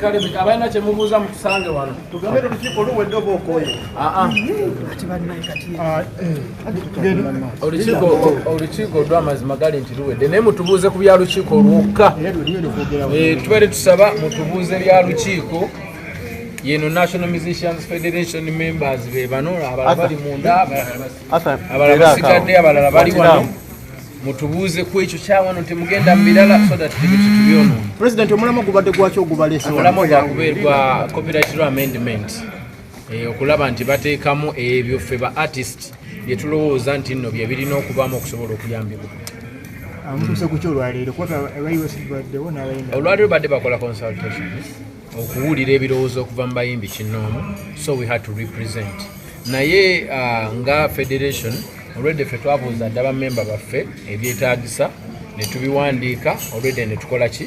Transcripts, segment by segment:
kale abalina kyemubuuza mutusange wano tugambe olukiiko luwedde oba okooye ati bannaye kati olukiiko olwamazima gali nti luwedde naye mutubuuze ku bya lukiiko olwokka eh, tubadde tusaba mutubuuze bya lukiiko yeno national musicians federation members be bano abalala bali munda abalala basigadde abalala bali wano mutubuuze ku ekyo kyawano temugenda mu birala so that tebitutubyono president omulamwa gubadde gwaki ogubalesa omulamwa gwakubeerwa copyright amendment eh, okulaba nti bateekamu ebyo ffe ba artist bye tulowooza nti nno bye birina okubaamu okusobola okuyambibwa ah, olwaleero badde bakola consultation okuwulira ebirowoozo okuva mu bayimbi kinnoomu so we had to represent naye ah, nga federation olwedde ffe twabuuza dda bamemba baffe ebyetagisa ne tubiwandiika olwedde ne tukola ki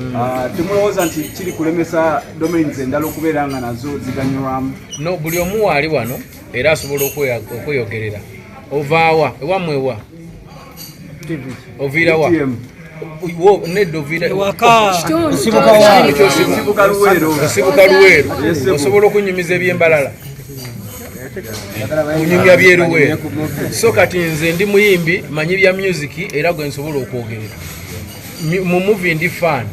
Mm. Ah, temulowooza nti kiri kulemesa domains endala okubeera nga nazo ziganyulwamu no buli omu waali wano era asobola okweyogerera ovaawa ewamwewa oviirawa nedosibuka luweero osobola okunyumiza ebyembalala kunyumya byeruweero so kati nze ndi muyimbi manyi bya musiki era gwe nsobola okwogerera mu muvi ndi fan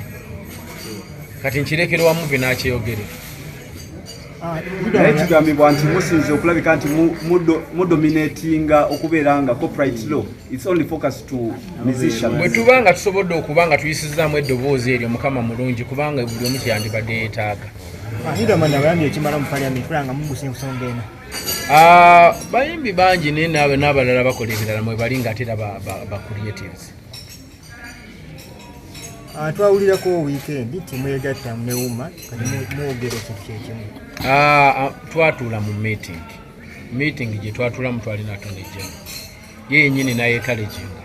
kati nkirekere wa muvi nakyeyogere ah, naye kigambibwa nti musinze okulabika nti mudominatinga okubeera nga copyright law its only focus to musician bwe tuba nga tusobodde okuba nga tuyisizaamu eddoboozi eryo mukama mulungi kubanga buli omu kyeyandibadde yeetaaga ah, ah, bayimbi bangi naye naabalala bakola ebirala mwebali nga ate era ba creatives Ah, twawulirako wiikendi nti mwegatta newuma kati mwogera ekintu kyekimu ah, ah, twatuula mu meeting meeting gye twatuulamu twalina tonejja ye yenyini nayetalekinga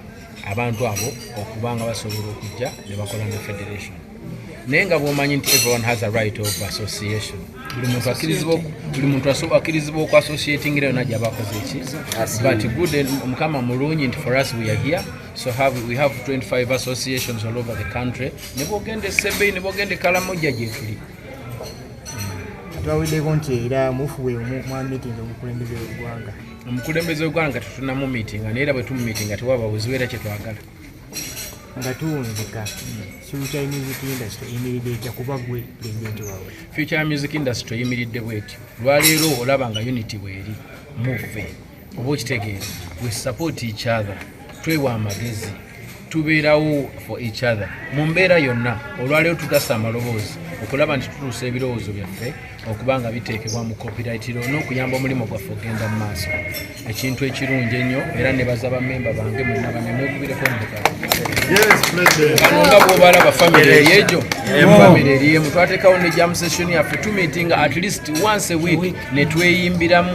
abantu abo okuba nga basobola okujja ne bakola ne federation naye nga bwomanyi nti everyone has a right of association buli muntu akirizibwa buli muntu akirizibwa oku associating era yona gyabakoze eki but good mukama mulungi nti for us we are here So have, we have 25 associations all over the country. Nebogende Sebei, nebogende Kalamoja Jeffrey. Twawideko nti era mufuwe mwa meeting omukulembeze w'eggwanga. Omukulembeze w'eggwanga tutuna mu meeting naye era bwe tumu meeting ati waba buzibu era kye twagala. Nga tuwunzika future music industry eyimiridde etya kuba gwe president waabwe. Future music industry eyimiridde bw'etyo. Lwaleero olaba nga unity bw'eri muve. oba okitegeera we support each other twewa amagezi tubeerawo for each other mu mbeera yonna olwaleero tugasa amaloboozi okulaba nti tutuusa ebirowoozo byaffe okuba nga biteekebwa mu kopirayitiro n'okuyamba omulimu gwaffe ogenda mu maaso ekintu ekirungi ennyo era ne baza bamemba bange mwena banemwekubireko mukano nga bwobalaba famiry eryegyo famiry eryemu twatekawo ne jam session yaffe tumitinga at least once a week netweyimbiramu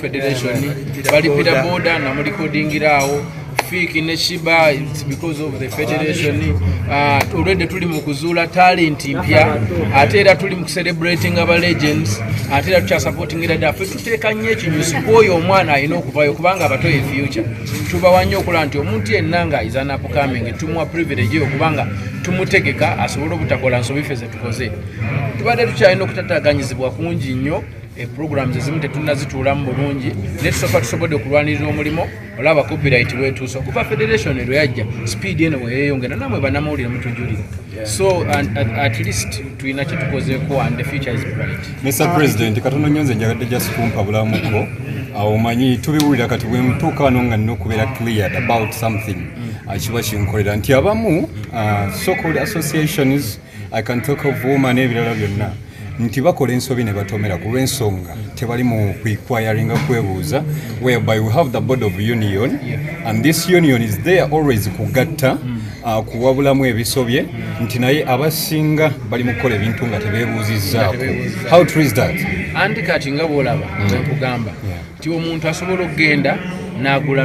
federation balipira boda nga mulikodingira awo fiiki ne shiba because of the federation uh, olwedde tuli mu kuzuula talent mpya ate era tuli mu kucelebrating aba legends ate era tukyasupportingira dda fe tuteeka nnyo ekinyusi kwoyo omwana alina okuvayo kubanga abato ye future tubawa nnyo okulaba nti omuntu yenna nga is an upcoming tumuwa privilege eyo kubanga tumutegeka asobole obutakola nsobi fe zetukoze tubadde tukyalina okutataganyizibwa kungi nnyo Eh, programs ezimu tetunazituulamu bulungi naye tusooka tusobodde okulwanirira omulimo olaba copyright lwetuusa okuva federation lwe yajja speed eno weyeyongera namwe banamawulire mutujulira so at least tulina kyetukozeeko and the future is bright mr president katono nyo nze njagadde just kumpa bulamuko awo manyi tubiwulira kati bwemutuuka wano nga nina okubeera cleared about something akiba kinkolera nti abamu uh, so called associations i can talk of woman ebirala byonna nti bakola ensobi ne batomera ku lw'ensonga tebali mu kuiquiringa kwebuuza whereby we have the board of union and this union is there always kugatta mm. uh, kuwabulamu ebisobye mm. nti naye abasinga bali mu kukola ebintu nga tebebuuzizzaako how true is that andi kati nga bwolaba mm. nkugamba nti omuntu asobola okugenda n'agula